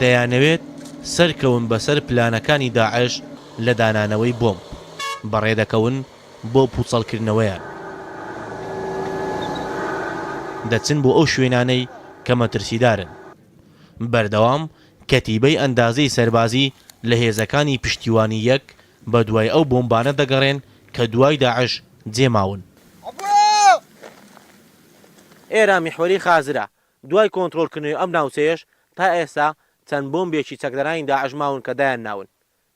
دەیانەوێت سەرکەون بەسەر پلانەکانی داعش لە دانانەوەی بۆمب، بەڕێدەکەون بۆ پوچەڵکردنەوەیان، دەچن بۆ ئەو شوێنانەی کە مەترسیدارن، بەردەوام کەتیبەی ئەندازەی سەربازی لە هێزەکانی پشتیوانی یەک بەدوای ئەو بۆمبانە دەگەڕێن کە دوای داعش جێماون. ئێران میحوەری خازرە، دوای کۆنترۆڵ کردنەوەی ئەم ناوچەیەش تا ئێستا چەند بۆمبێکی چەکدارانی داعش ماون کە دایان ناون.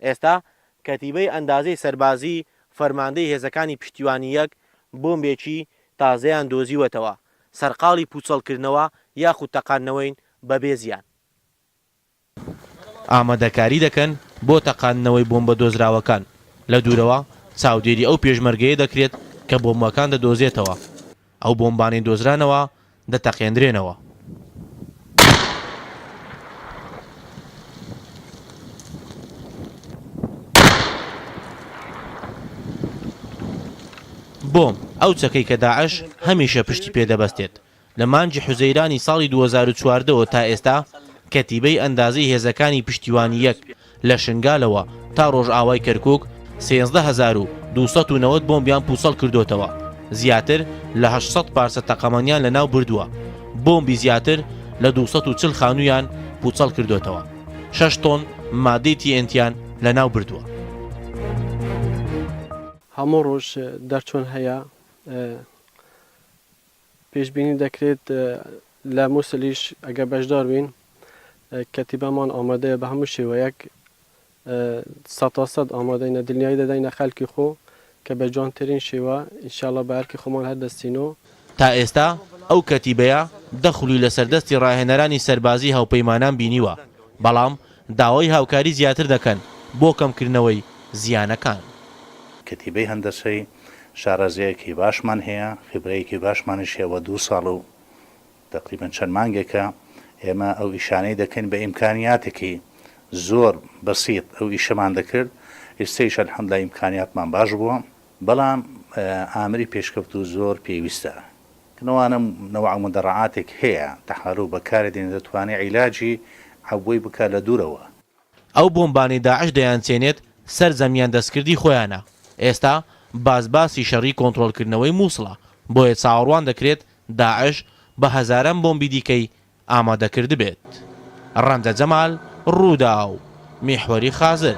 ئێستا کەتیبەی ئەندازەی سەربازی فەرماندەی هێزەکانی پشتیوانی یەک بۆمبێکی تازەیان دۆزیوەتەوە، سەرقاڵی پوچەڵکردنەوە یاخود تەقاندنەوەین بەبێ زیان. ئامادەکاری دەکەن بۆ تەقاندنەوەی بۆمبە دۆزراوەکان، لە دوورەوە چاودێری ئەو پێشمەرگەیە دەکرێت کە بۆمبەکان دەدۆزێتەوە، ئەو بۆمبانەی دۆزرانەوە دەتەقێندرێنەوە. بۆمب، ئەو چەکەی کە داعش هەمیشە پشتی پێ دەبەستێت، لە مانگی حوزەیرانی ساڵی دوو هەزار و چواردە وە تا ئێستا کەتیبەی ئەندازەی هێزەکانی پشتیوانی یەک لە شنگالەوە تا ڕۆژئاوای کەرکوک سێزدە هەزار و دوو سەد و نەوەد بۆمبیان پوچەڵ کردۆتەوە زیاتر لە هەشت سەد پارچە تەقەمەنیان لە ناو بردوە بۆمبی زیاتر لە دوو سەد و چل خانویان پوچەڵ کردۆتەوە شەش تۆن مادەی تی ئێن تیان لە ناو بردوە. هەموو ڕۆژ دەرچوون هەیە. پێشبینی دەکرێت لە موسڵیش ئەگەر بەشدار بین کەتیبەمان ئامادەیە بە هەموو شێوەیەک سەتاسەد ئامادەینە دنیای دەدەینە خەلکی خۆ کە بە جوانترین شێوە ئینشاڵا بە ئەرکی خۆمان هەردەستین و تا ئێستا ئەو کەتیبەیە دە خولی لەسەر دەستی ڕاهێنەرانی سەربازی هاوپەیمانان بینیوە، بەڵام داوای هاوکاری زیاتر دەکەن بۆ کەمکردنەوەی زیانەکان. کەتیبەی هەندەسەی شارەزایەکی باشمان هەیە، خیبرەیەکی باشمانیش هەیە و دوو ساڵ و تەقریبەن چەند مانگێکە ئێمە ئەو ئیشانەی دەکەین بە ئیمکانیاتێکی زۆر بەسیط ئەو ئیشەمان دەکرد، ئیستەیش الحمدللە ئیمکانیاتمان باش بووە، بەڵام ئامری پێشکەوتوو زۆر پێویستە. کەنوانە نەوع مدەڕەعاتێک هەیە تەحارو بەکاری دێنێت دەتوانێت عیلاجی عەبوەی بکات لە دوورەوە. ئەو بۆمبانەی داعش دەیانچێنێت سەر زەمیان دەستکردی خۆیانە، ئێستا باس باسی شەڕی کۆنترۆڵکردنەوەی موسڵە، بۆیە چاوەڕوان دەکرێت داعش بە هەزاران بۆمبی دیکەی ئامادەکردبێت. ڕەنجە جەمال، رووداو، میحوەری خازر.